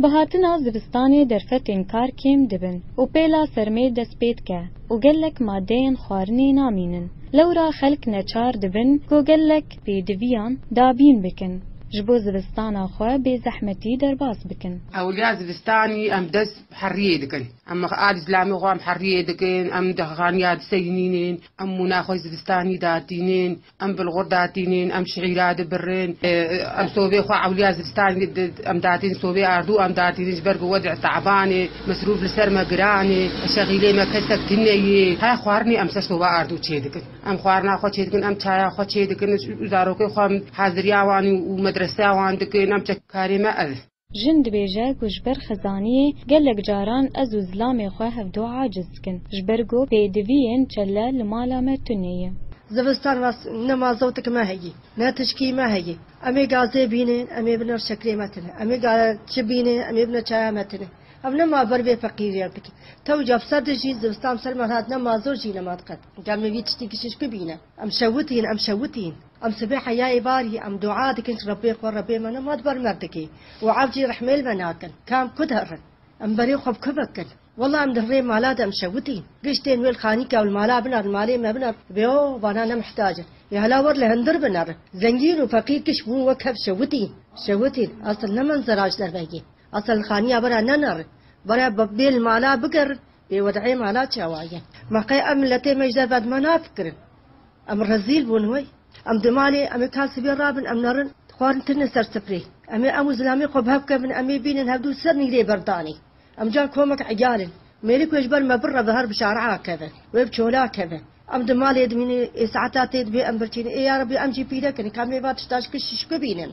Bi hatina zivistanê derfetên kar kêm dibin û pêla sermê dest pê dike û gelek madeyên xwarinê namînin. Lewra xelk neçar dibin ku gelek pêdiviyan dabîn bikin ji bo zivistana xwe bê zehmetî derbas bikin. Ewiliya zivistanê em dest Heriyê dikin. Em a li zilamê xwe em heriyê dikin, em dehxaniya diseyinînin, em mûna xwe zivistanî datînin, em bilxur datînin, em şîîra dibirin, em sovê xwe ewliya zivistanî em datînin, sovê ardû em datînin ji ber ku wedî taban e, mesrûf li ser me giran e, şexîlê me kesek tune ye. Heya xwarinê em ser sova ardû çê dikin. Em xwarina xwe çê dikin, em çaya xwe çê dikin û zarokên xwe em haziriya wan û medreseya wan dikin, em çekkarê me ev e. Jin dibêje ku ji ber xizaniyê gelek caran ez û zilamê xwe hevdu aciz dikin. Ji ber ku pêdiviyên çelle li mala me tune ye. Zivistan rast ne ma zewtik me heye, ne tişkî me heye. Em ê gazê bîne, em ê bine şekrê me tune. Em ê çi bîne, em ê bine çaya me tune. Ev ne ma ber vê feqîriyan dikin. Tewca bi ser dijî, zivistan bi ser me hat ne ma zor jî ne ma diqet. Gel min vî tiştî kişîşkû bîne. Em şewitîn, em şewitîn. Em sibê heyayê barî em dua dikin ji Rebbê xwe, Rebbê me nema di ber merdikê û ev jî rehmê li me nakin. Ka em ku diherin em berê xwe bi ku bikin. Wela em di hirê mala de em şewitîn. Giştên wê li xanîka û li mala bina, li malê me bina, bê o vana ne mihtacin. Yê hela wer li hindir bin erin. Zengîn û feqîr giş bûn wek hev şewitîn. Şewitîn asl ne menzera ji derve ye. Asl li xanîya we re nenerin. Bare bê li mala bigerin bê wed'ê mala çawa ye. Ma qey ev miletê me ji derve di me nafikirin. Em rezîl bûn wey. Em di malê, em ê ta sibê rabin, em nerin, xwarin kirine ser siprê. Em ê ew û zilamê xwe bi hev kevin, em ê bînin hev du ser nîgreyê ber danê. Em can komek egal in. Mêrik wê ji ber me bire ve her bi şare'a keve. Wê bi çola keve. Em di malê dimînin, ê saeta tê dibê em birçînin. Ê ya Rebbi em jî pîrek in, ka mêva tişta ji kişt şikibînin.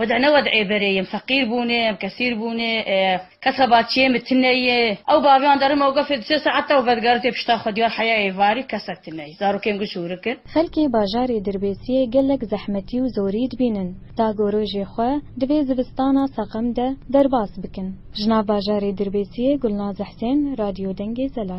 Wede ne wedê berê ye, em feqîr bûne, em kesîr bûne, kes ve ba çiyê min tune ye. Ew baviyan derim ew gefê di sê saet de û vedigere tê pişta xwe diyar heyayê varî kesek tune ye. Zarokê min got şûrik in. Xelkê bajarê Dirbêsiyê gelek zehmetî û zorî dibînin. Dagoro jê xwe di vê zivistana seqem de derbas bikin. Ji nav bajarê Dirbêsiyê Gulnaz Husên, Radyo Dengê Zelal.